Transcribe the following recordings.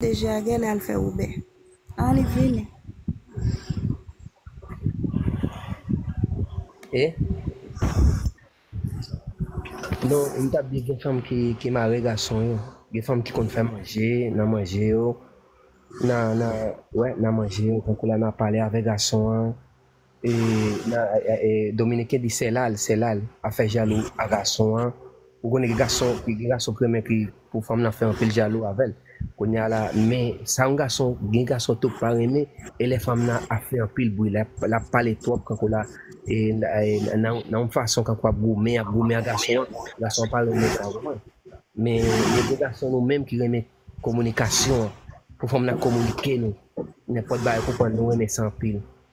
Deje a gèlè al fè wobè. An li vini. E Non m tap di gen fanm ki mare gason yo gen fanm ki konn fè manje nan manje yo nan nan wè nan manje yo tankou lè nap pale avè gason an Dominiken di sèlal, sèlal ap fè jalou a gason an, ou konnen gen gason gen gason ki renmen ki pou fanm lan fè anpil jalou avè l, kounya la men sa yon gason gen gason tou k pa renmen e lè fanm lan ap fè anpil bri l ap pale twòp kankou l a nan yon fason kankou ap goumen ap goumen a gason an, gason an pa renmen sa ou konprann men gen de gason nou menm ki renmen kominikasyon pou fanm lan kominike nou nenpòt bagay ou konprann nou renmen sa anpil.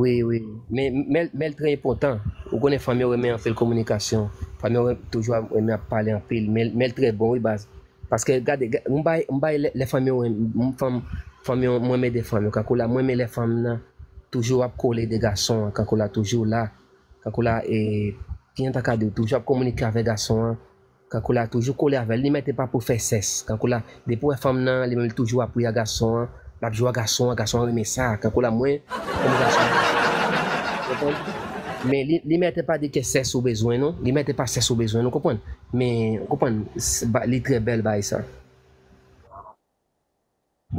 Wi wi men men men l trè enpòtan ou konnen fanm yo renmen anpil kominikasyon fanm yo renmen toujou ap renmen ap pale anpil men men l trè bon wi baz paske gade ga m bay m bay lè lè fanm yo renm m fanm fanm yo m renmen de fanm yo kankou la m renmen lè fanm nan toujou ap kole de gason an kankou la toujou la kankou la e kijan m ta ka di w toujou ap kominike avèk gason an Kankoula toujou kole avèl li mèt epa pou fè sès kankoula depi wè fanm nan li menm li toujou ap ri a gason an lap jwe a gason an gason an renmen sa kankoula mwen renmen gason an ou konprann men li li mèt epa di ke sès ou bezwen non li mèt epa sès ou bezwen nou konprann men ou konprann li trè bèl bay sa.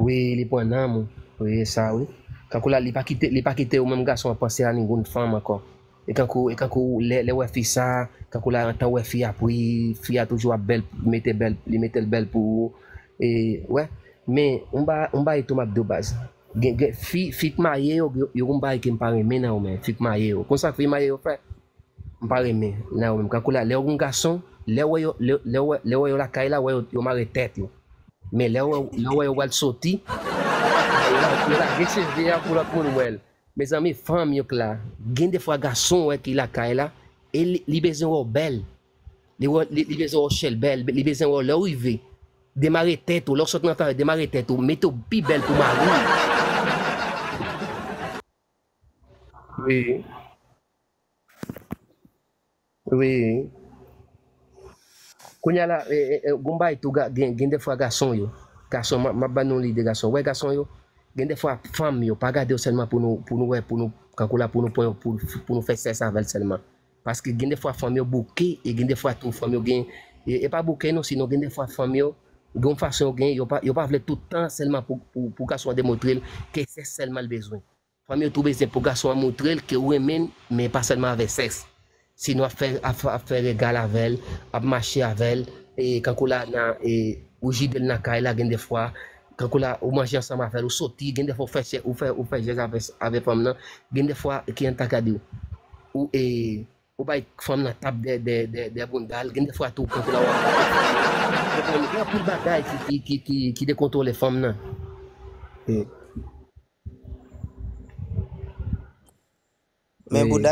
Wi li pwan nanm ou wi esa wi tankou la li pa kite li pa kitew menm gason an panse a ningoun fanm ankò e tankou e tankou lè lè wè fi sa tankou la antan wè fi a pri fi a toujou ap bèl li mete bèl li metel bèl pou ou e wè men yon ba yon bagay tou map diw baz gen gen fi fi k marye yo gen yon bagay kem pa renmen nan yo men fi k marye yo konn sa fi marye yo fè M pa renmen nan yo menm kankou la lèw gon gason lèw wè yo lèw wè yo lakay la wè yo mare tèt yo men lèw wè yo pral soti yo lage cheve a pou lòt moun wèl mezanmi fanm yo k la gen defwa gason wè ki lakay la e li bezwen wèw bèl li bezwen wèw chèlbè li bezwen wèw lèw rive demare tèt ou lèw sot nan afè demare tèt ou mete w pi bèl pou mariw wi Wi Kounya la gon bagay tou gen dèfwa gason yo gason map ban nou lide gason wè gason yo gen dèfwa fanm yo pa gade yo sèlman pou nou pou nou wè pou nou kankou la pou nou pran yo pou pou nou fè sèks avèl sèlman paske gen dèfwa fanm yo bouke e gen dèfwa tou fanm yo gen e pa bouke non sinon gen dèfwa fanm yo gon fason yo gen yo pa yo pa vle tout tan sèlman pou pou gason an demontre l ke sèks sèlman l bezwen Fanm yo tou bezyen pou gason an moutrel ke ou renmenn men pa sèlman avè sèks. Si nou ap fè ap fè regal avèl, ap mache avèl, kankou la nan ou jidel nan kay la gen de fwa, kankou la ou manje ansanm avèl, ou soti, gen de fwa ou fè ou fè jèz avè fanm nan, gen de fwa ki an ta ka di ou Ou bay fanm nan tap dè boundal gen de fwa tou konn kouman wap konprann gen anpil bagay ki dekontwole fanm nan. Men bouda